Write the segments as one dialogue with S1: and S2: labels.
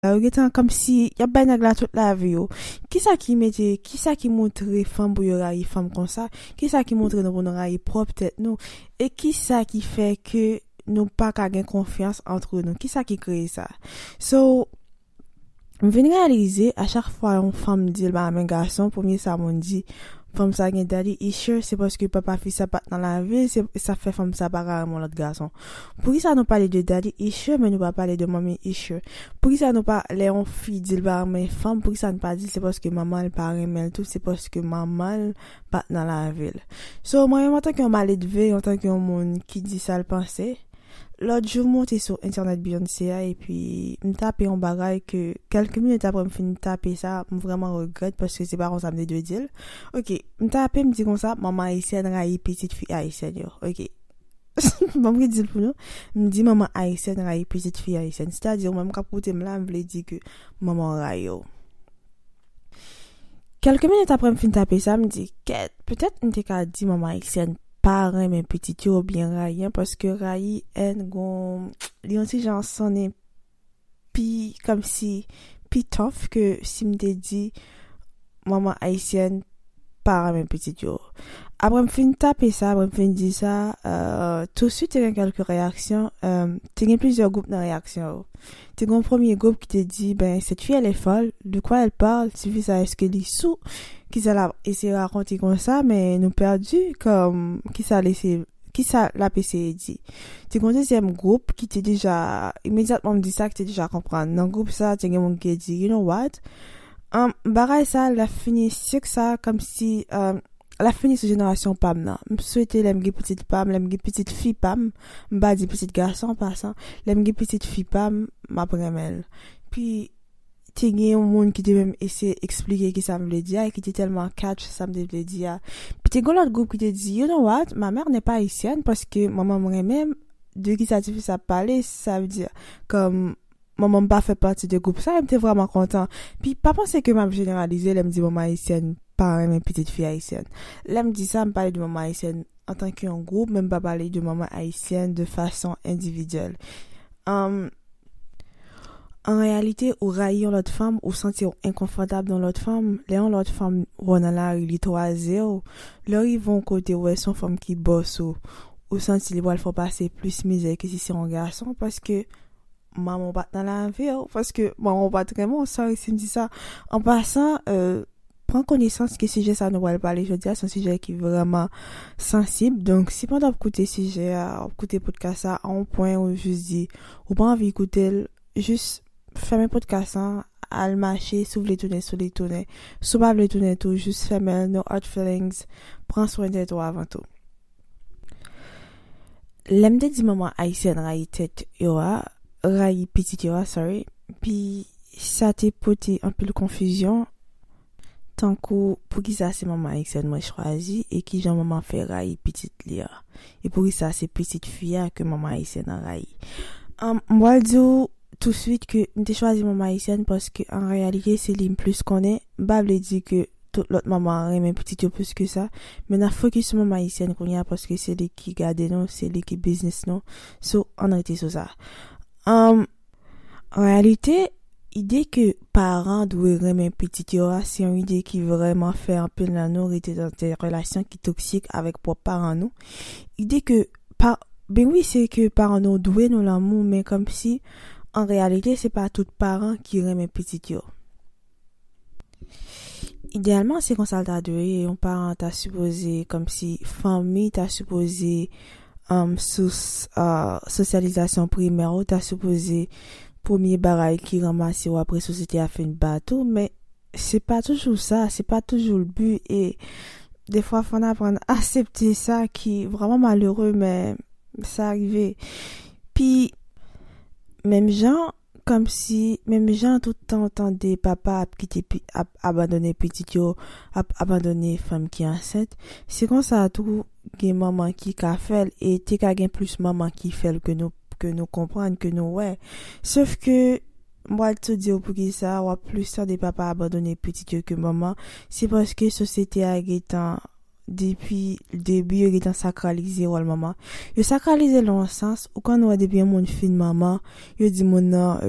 S1: Yo gentan komsi yap bay nèg la tout lavi yo. Kisa ki mete, kisa ki montre fanm pou yo rayi fanm konsa? Kisa ki montre nou pou nou rayi pwòp tèt nou? E kisa ki fè ke nou pa ka gen konfyans antre nou? Kisa ki kreye sa? So, m vin reyalize a chak fwa yon fanm di l pa renmen gason, premye sa moun di, fanm sa gen daddy issue, se paske papa fi sa pat nan lavi l, se sa fè fanm sa paka renmen yon lòt gason. Poukisa nou pale de daddy issue men nou pa pale de mommy issue poukisa nou pa lè yon fi dil pa renmen fanm poukisa nou pa dil se paske manmanl pa renmenl tout se paske manmanl pat nan lavil so mwen menm antanke yon maledve antanke yon moun ki di sal panse lòt jou m monte sou entènèt Beyoncé a epi m tape yon bagay ke kèlke minit aprè m fin tape sa m vrèman regrèt paske se pa konsa m te dwe dil ok m tape m di konsa manman ayisyèn rayi pitit fi ayisyèn yo ok. Bon m ki di l pou nou, m di manman ayisyèn rayi pitit fi ayisyèn. Sètadi ou menm k ap koute m la, m vle di ke manman w rayi w. Kèlke minit apre m fin tape sa, m di, kèt, petèt m te ka di manman ayisyèn pa renmen pitit yo oubyen rayi an paske rayi, èn, gon, li yon ti jan sonnen pi kòmsi pi tough ke si m te di manman ayisyèn pa renmen pitit yo. Aprè m fin tape sa, aprè m fin di sa, touswit te gen kèlke reyaksyon, te gen plizyè gwoup nan reyaksyon yo. Te gen yon premye gwoup ki te di, Ben, cette fille elle est folle, de quoi elle parle, tifi sa èske li sou, kisa l ap eseye rakonte konsa, men nou pèdi, kòm kisa l eseye. Kisa l ap eseye di? Te gen yon dezyèm gwoup ki te deja, imedyatman m di sa, ki te deja konprann. Nan gwoup sa a, te gen moun ki te di, You know what? Bagay sa a, l ap fini sik sa a kòmsi, l ap fini sou jenerasyon pa m nan. M swete lè m gen pitit pa m, lè m gen pitit fi pa m, m pa di pitit gason an pasan, lè m gen pitit fi pa m, m ap renmen l. Pi. te gen yon moun ki te menm eseye eksplike ki sa m vle di a e ki te tèlman catch sa m te vle di a. Pi te gen yon lòt gwoup ki te di, you know what, ma mère n'est pas haïtienne paske manman m renmen m, de ki sa ti fi sa ap pale, sa vle di kòm manman m pa fè pati de gwoup sa e m te vrèman kontan. Pi pa panse ke m ap jeneralize lè m di manman ayisyèn pa renmen pitit fi ayisyèn. Lè m di sa m pale de manman ayisyèn. antanke yon gwoup, men m pa pale de manman ayisyen de fason endividyèl. An reyalite, ou rayi yon lòt fanm, ou santi w enkonfòtab nan lòt fanm, lè yon lòt fanm wè w nan lari, li twaze w, lè w rive yon kote ou wè se yon fanm ki bòs ou, ou santi li pral fè w pase plis mizè ke si se yon gason, paske. manman w pat nan lavi w, paske manman w pat renmen w, sorry si m di sa, an pasan pran konesans ke sijè sa nou pral pale jodi a se yon sijè ki vreman sansib, donk si pandan w ap koute sijè a, w ap koute podkas sa a on pwen ou jis di ou pa anvi koute l, jis fèmen podkas an al mache, si w vle tounen sou li tounen, si w pa vle tounen tou jis fèmen l, no hard feelings, pran swen tèt ou avan tou. Lè m te di manman ayisyèn rayi tèt yo a, rayi pitit yo a, sorry, pi sa te pote anpil konfizyon, tankou poukisa se manman ayisyèn mwen chwazi e kijan manman fè rayi pitit li an? E poukisa se pitit fi a ke manman ayisyèn an rayi? M pral di w. touswit ke m te chwazi manman ayisyèn paske an reyalite se li m plis konnen, m pa vle di ke tout lòt manman renmen pitit yo plis ke sa, men n ap fokis sou manman ayisyèn kounye a paske se li ki gade nou, se li ki biznis nou, so ann rete sou sa. An reyalite, ide ke paran dwe renmen pitit yo a se yon ide ki vrèman fè anpil nan nou rete nan de relasyon ki toksik avèk pwòp paran nou, ide ke. pa ben wi se ke paran nou dwe nou lanmou men kòmsi an reyalite se pa tout paran ki renmen pitit yo ideyalman se konsa l ta dwe ye yon paran ta sipoze kòmsi fanmi ta sipoze sous sosyalizasyon primè w ta sipoze premye bagay ki ranmase w apre sosyete a fin bat ou men. se pa toujou sa, se pa toujou l bi e defwa fò n aprann asepte sa ki vrèman malere men sa rive. Pi menm jan kòm si menm jan tout tan w tande papa ap kite ap abandone pitit yo, ap abandone fanm ki ansent, se konsa tou gen manman ki ka fè l e te ka gen plis manman ki fè l ke nou ke nou konprann, ke nou wè. Sof ke. M pral tou di w poukisa w ap plis tande papa abandone pitit yo ke manman, se paske sosyete a gen tan depi ldebi yo gen tan sakralize wòl manman. Yo sakralize l nan yon sans, ou konn wè depi yon moun fin manman, yo di moun nan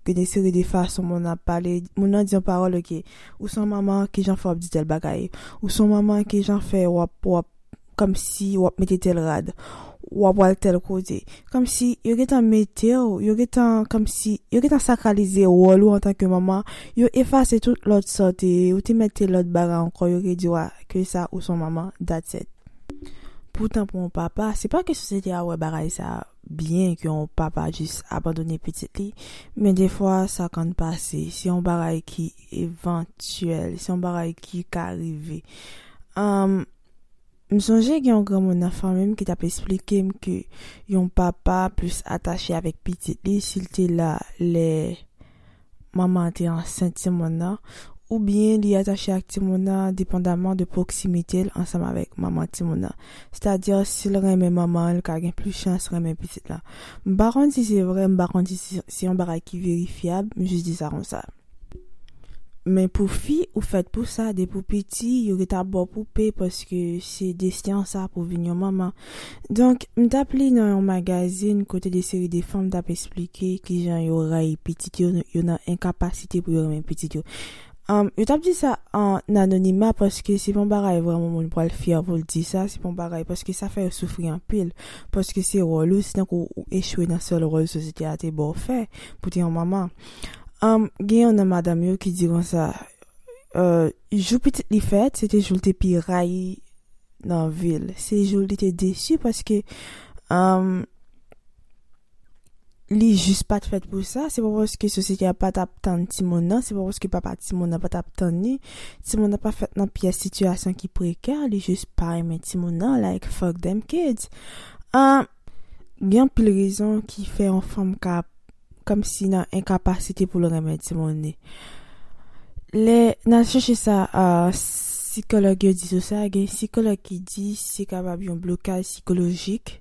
S1: gen yon seri de fason moun nan ap pale, moun nan di yon pawòl ok, ou son manman kijan fè w ap di tèl bagay, ou son manman kijan fè w ap w ap kòmsi wap mete tèl rad wap wal tèl kote kòmsi yo gentan metew yo gentan kòmsi yo gentan sakralize wòl ou antanke manman yo efase tout lòt sa w te ye ou te mèt te lòt bagay ankò yo ke diw a ke sa ou son manman that's it poutan pou yon papa se pa ke sosyete a wè bagay sa byen ke yon papa jis abandone pitit li men defwa sa konn pase se yon bagay ki evantyèl, se yon bagay ki ka rive. Um, m sonje gen yon granmoun nan fanmi m ki t ap esplike m ke yon papa plis atache avèk pitit li si l te la lè manman an te ansent timoun nan, oubyen li atache ak timoun nan depandaman de pwoksimite l ansanm avèk manman timoun nan. Sètadi, si l renmen manman an, l ka gen plis chans renmen pitit lan. M pa konn si se vre, m pa konn si se yon bagay ki verifyab, m jis di sa konsa. Men pou fi ou fèt pou sa depi ou piti yo ret ap baw poupe paske se desten an sa pou vin yon manman donk m tap li nan yon magazin kote de seri de fanm tap esplike kijan yo rayi pitit yo yo nan enkapasite pou yo renmen pitit yo humm yo tap di sa an anonima paske se pa yon bagay vrèman moun pwal fyè poul di sa se pa yon bagay paske sa fè yo soufri anpil paske se wòl ou se tankou ou echwe nan sèl wòl sosyete a te baw fè pou te yon manman. Am, gen yon nan madanm yo ki di konsa, Ò, jou pitit li fèt, se te jou l te pi rayi nan vi l. Se jou li te desi paske, am, li jis pa t fèt pou sa. Se pa paske sosyete a pa t ap tann timoun nan, se pa paske papa timoun nan pa t ap tann ni. Timoun nan pa fèt nan pyès sitiyasyon ki prekè, li jis pa renmen timoun nan, like fuck them kids. Am, gen anpil rezon ki fè yon fanm ka. kòmsi nan enkapasite pou l renmen timoun li. Lè n al chèche sa sikològ yo di sou sa, gen sikològ ki di se kapab yon blokaj sikolojik.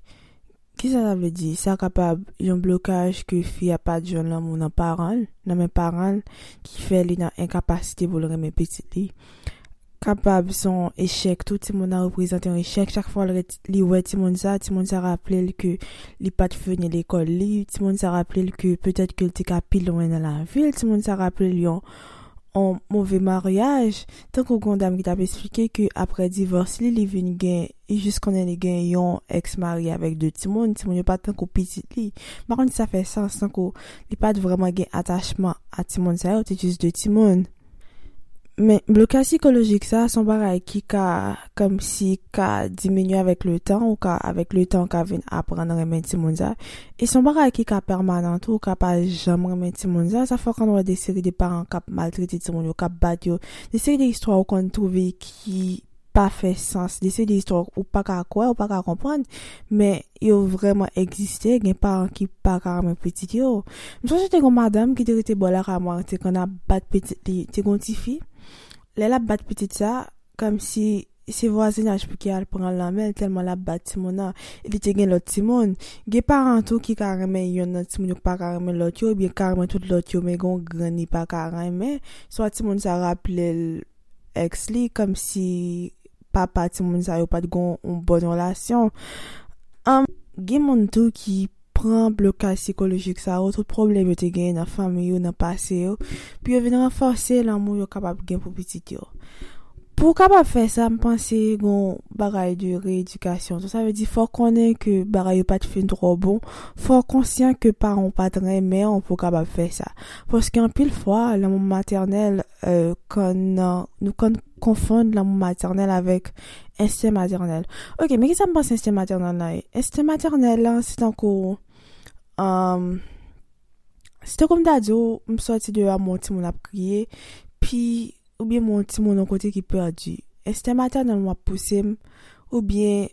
S1: Kisa sa vle di? Sa kapab yon blokaj ke fi a pa t jwenn lanmou nan paran l, nan men paran l, ki fè li nan enkapasite pou l renmen pitit li. kapab se yon echèk tou, timoun nan reprezante yon echèk, chak fwa li wè timoun sa, timoun sa raple l ke li pat fini lekòl li, timoun sa raple l ke petèt ke l te ka pi lwen nan lavi l, timoun sa raple l yon move maryaj, tankou gen yon dam ki t ap esplike ke aprè divòs li, li vin gen, li jis konnen li gen yon èks marye avèk 2 timoun, timoun yo pa tankou pitit li, m pa konn si sa fè sans, tankou li pat vrèman gen atachman a timoun sa yo, te jis 2 timoun. Men, blokaj sikolojik sa a se yon bagay ki ka kòmsi ka diminye avèk letan, ou ka avèk letan ou ka vin aprann renmen timoun sa a, e se yon bagay ki ka pèmanan tou, ou ka pa janm renmen timoun sa a, sa fè konn wè de seri de paran k ap maltrete timoun yo, k ap bat yo, de seri de istwa ou konn twouve ki. pa fè sans, li se de istwa ou pa ka kwè, ou pa ka konprann, men yo vrèman egziste, gen paran ki pa ka renmen pitit yo. M sonje te gen yon madanm ki te rete bò lakay mwen, te konn ap bat pitit li, te gen yon ti fi, lè l ap bat pitit sa, kòmsi se vwazinaj pou ki al pran l nan men l tèlman l ap bat timoun nan, epi te gen lòt timoun, gen paran tou ki ka renmen yonn nan timoun yo ki pa ka renmen lòt yo, oubyen ki ka renmen tout lòt yo men gen yon grenn li pa ka renmen, swa timoun sa raple l. ex li komsi papa timoun sa yo pat gon yon bon relasyon humm. Gen moun tou ki pran blokaj sikolojik sa yo, tout pwoblèm yo te genyen nan fanmi yo, nan pase yo, pou yo vin ranfòse lanmou yo kapab gen pou pitit yo. Pou w kapab fè sa, m panse gen yon bagay de reyedikasyon tou. Sa vle di fò w konnen ke bagay yo pat fin twò bon, fò w konsyan ke paran w pat renmen w pou w kapab fè sa. Paske anpil fwa, lanmou matènèl. nou konn konfonn lanmou matènèl avèk ensten matènèl. Ok, men ki sa m panse ensten matènèl la ye? Ensten matènèl la, se tankou, se tankou m ta di w, m soti deyò m wè yon timoun ap kriye, pi, oubyen m wè yon timoun yon kote ki pèdi. Ensten matènèl mwen ap pouse m, oubyen,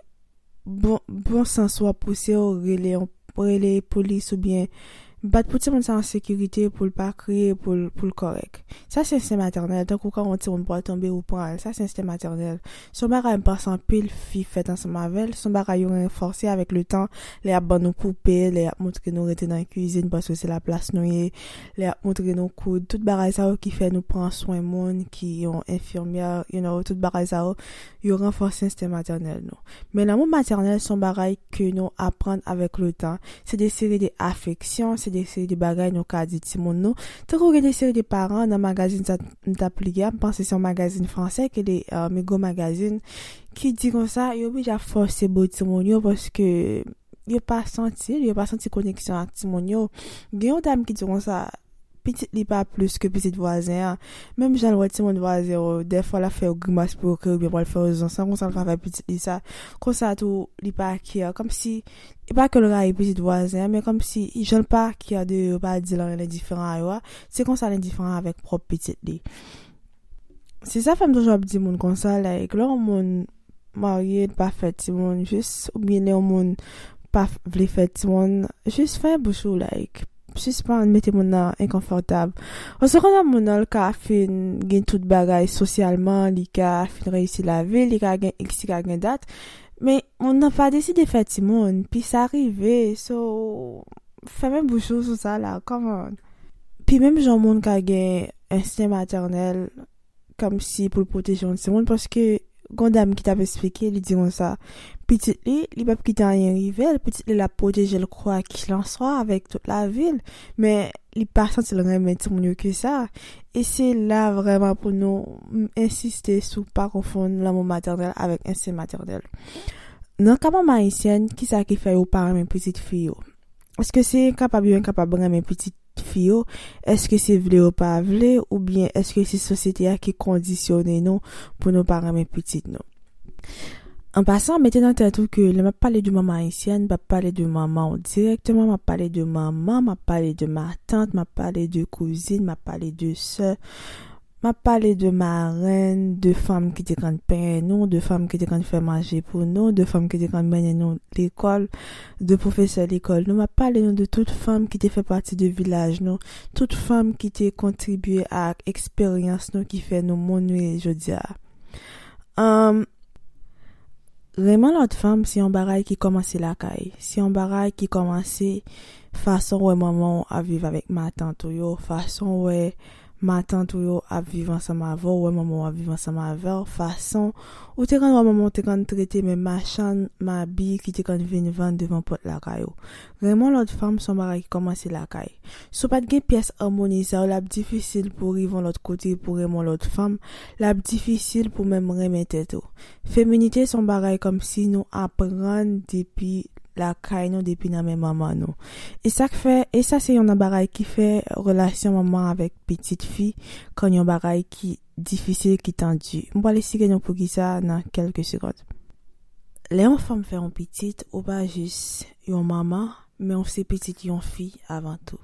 S1: Bon bon sans wap pouse w rele yon rele polis ou byen bat pou timoun sa an sekirite pou l pa kriye pou l pou l kòrèk sa se enstè matènèl tankou kan yon timoun pral tonbe ou pran l sa se enstè matènèl s on bagay m panse anpil fi fèt ansanm avè l s on bagay yo ranfòse avèk le tan lè y ap ban nou koupe lè y ap montre nou rete nan kizin paske se la plas nou ye lè y ap montre nou koud tout bagay sa yo ki fè nou pran swen moun ki yon enfimyè you know tout bagay sa yo. yo ranfòse enstè matènèl nou. Men lanmou matènèl se yon bagay ke nou aprann avèk le tan, se de seri de afeksyon, se de seri de bagay nou ka di timoun nou, tankou gen de seri de paran nan magazin sa m t ap li a, m panse se yon magazin fransè ki rele Migo Magazine, ki di konsa, yo oblije ap fòse bo timoun yo paske yo pa santi l, yo pa santi koneksyon ak timoun yo. Gen yon dam ki di konsa, pitit li pa plis ke pitit vwazen an. Menm jan l wè timoun vwazen yo, dèfwa l ap fè yo grimas pou yo kriye oubyen pral fè yo zonsan, konsa l ka fè pitit li sa. Konsa tou, li pa kè. Kòmsi, e pa ke l rayi pitit vwazen an, men kòmsi, jan l pa kè de yo, yo pa di l anyen l endiferan a yo a, se konsa l endiferan avèk pwòp pitit li. Se sa fèm toujou ap di moun konsa like lè yon moun marye li pa fè timoun jis oubyen lè yon moun pa vle fè timoun jis fèmen bouch ou like sispann mete moun nan enkonfòtab paske konn yon moun lè ka fin gen tout bagay sosyalman li ka fin reyisi lavil li ka gen iks li ka gen dat men moun nan pa deside fè timoun pi sa rive so fèmen bouch ou sou sa la kòman pi menm jan moun ka gen. ensten matènèl kòmsi pou l pwoteje yon timoun paske gon dam ki t ap esplike li di konsa pitit li li p ap kite anyen rive l pitit li l ap pwoteje l kwakilanswa avèk tout lavi l men li pa santi l renmen timoun yo ke sa e se la vrèman pou nou ensiste sou pa konfonn lanmou matènèl avèk ensten matènèl nan ka manman ayisyèn kisa ki fè yo pa renmen pitit fi yo Eske se enkapab yo enkapab renmen pitit fi yo? Eske se vle yo pa vle? Oubyen eske se sosyete a ki kondisyone nou pou nou pa renmen pitit nou? An pasan, mete nan tèt ou ke lè map pale de manman ayisyèn, mpap pale de manman w dirèkteman, map pale de manman, map pale de matant, map pale de kouzin, map pale de sè, M ap pale de marenn, de fanm ki te konn penyen nou, de fanm ki te konn fè manje pou nou, de fanm ki te konn mennen nou lekòl, de pwofesè lekòl nou. M ap pale nou de tout fanm ki te fè pati de vilaj nou, tout fanm ki te kontribye ak eksperyans nou ki fè nou moun nou ye jodi a. Humm. Renmen lòt fanm se yon bagay ki kòmanse lakay. Se yon bagay ki kòmanse fason w wè manman w ap viv avèk matant ou yo, fason w wè. matant ou yo ap viv ansanm avè w, wè manman w ap viv ansanm avè w, fason ou te konn wè manman w te konn trete men machann mabi ki te konn vin vann devan pòt lakay ou. Renmen w lòt fanm se yon bagay ki kòmanse lakay. Si w pa t gen pyès amoni sa yo l ap difisil pou w rive yon lòt kote pou w renmen w lòt fanm, l ap difisil pou w menm renmen tèt ou. Feminite son bagay komsi nou aprann depi lakay nou depi nan men manman nou e sak fè e sa se yon nan bagay ki fè relasyon manman avèk pitit fi konn yon bagay ki difisil ki tandi m pral esplike nou poukisa nan kelke segond. Lè yon fanm fè yon pitit ou pa jis yon manman men ou se pitit yon fi avan tou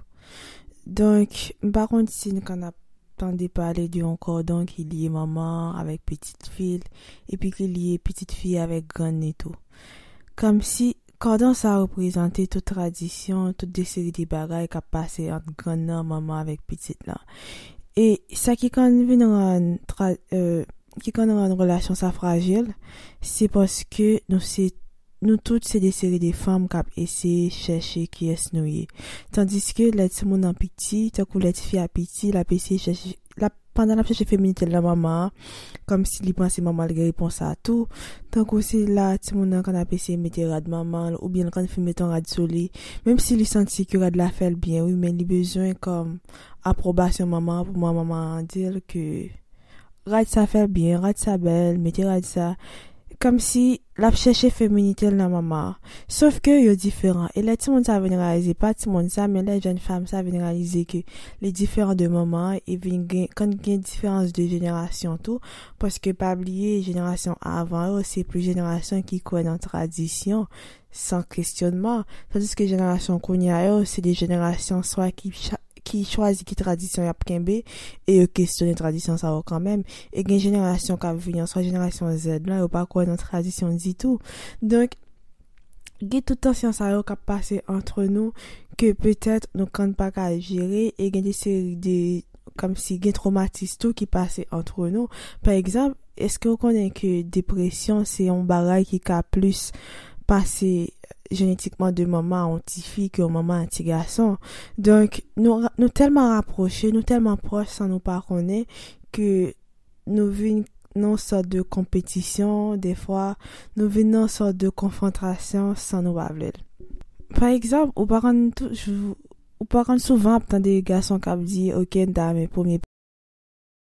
S1: donk m pa konn si n konn ap. tande pale de yon kòdon ki lye manman an avèk pitit fi l epi ki lye pitit fi a avèk grann ni tou. Kòmsi, kòdon sa a reprezante tout tradisyon, tout de seri de bagay k ap pase ant grann nan, manman avèk pitit lan. E sa ki konn vin rann tra, ki konn rann relasyon sa frajil, se paske nou se. Nou tout se de seri de fanm k ap eseye chèche kiyès nou ye. Tandiske lè timoun nan piti, tankou lè tifi a piti, l ap eseye chèche, l ap, pandan l ap chèche feminite l nan manman an, kòmsi li panse manman l gen repons a tou, tankou se la timoun nan konn ap eseye mete rad manman l, oubyen l konn fin met on rad sou li, menm si li santi ke rad la fè l byen wi men li bezwen kòm apwobasyon manman an pou manman an di l ke Rad sa fèl byen rad sa bèl mete rad sa Kòmsi lap chèche feminitel nan mama Sof ke yo diferan e lè timoun sa vin reyalize pa timoun sa men lè jèn fanm sa vin reyalize ke li diferan de mama e vin gen kan gen diferans de jenerasyon tou paske pa bliye jenerasyon avan yo se plis jenerasyon ki kwè nan tradisyon san kesyonman tandiske jenerasyon kounya yo se de jenerasyon swa ki ki chwazi ki tradisyon y ap kenbe, e yo kesyone tradisyon sa yo kanmenm, e gen jenerasyon k ap vini an, swa jenerasyon zèd la, yo pa kwè nan tradisyon ditou. Donk, gen tout tansyon sa yo k ap pase antre nou, ke petèt nou kand pa ka jere, e gen de seri de, kòmsi gen twomatis tou ki pase antre nou. Pa egzanp. Eske ou konnen ke depresyon se yon bagay ki ka plis pase jenetikman de manman a yon ti fi ke yon manman a yon ti gason. Donk nou tèlman rapwoche, nou tèlman pwòch san nou pa konnen ke nou vin nan yon sòt de konpetisyon defwa, nou vin nan yon sòt de konfwontrasyon san nou pa vle l. Pa egzanp, ou pa konn toujou, ou pa konn souvan ap tande gason k ap di, ok m ta renmen premye.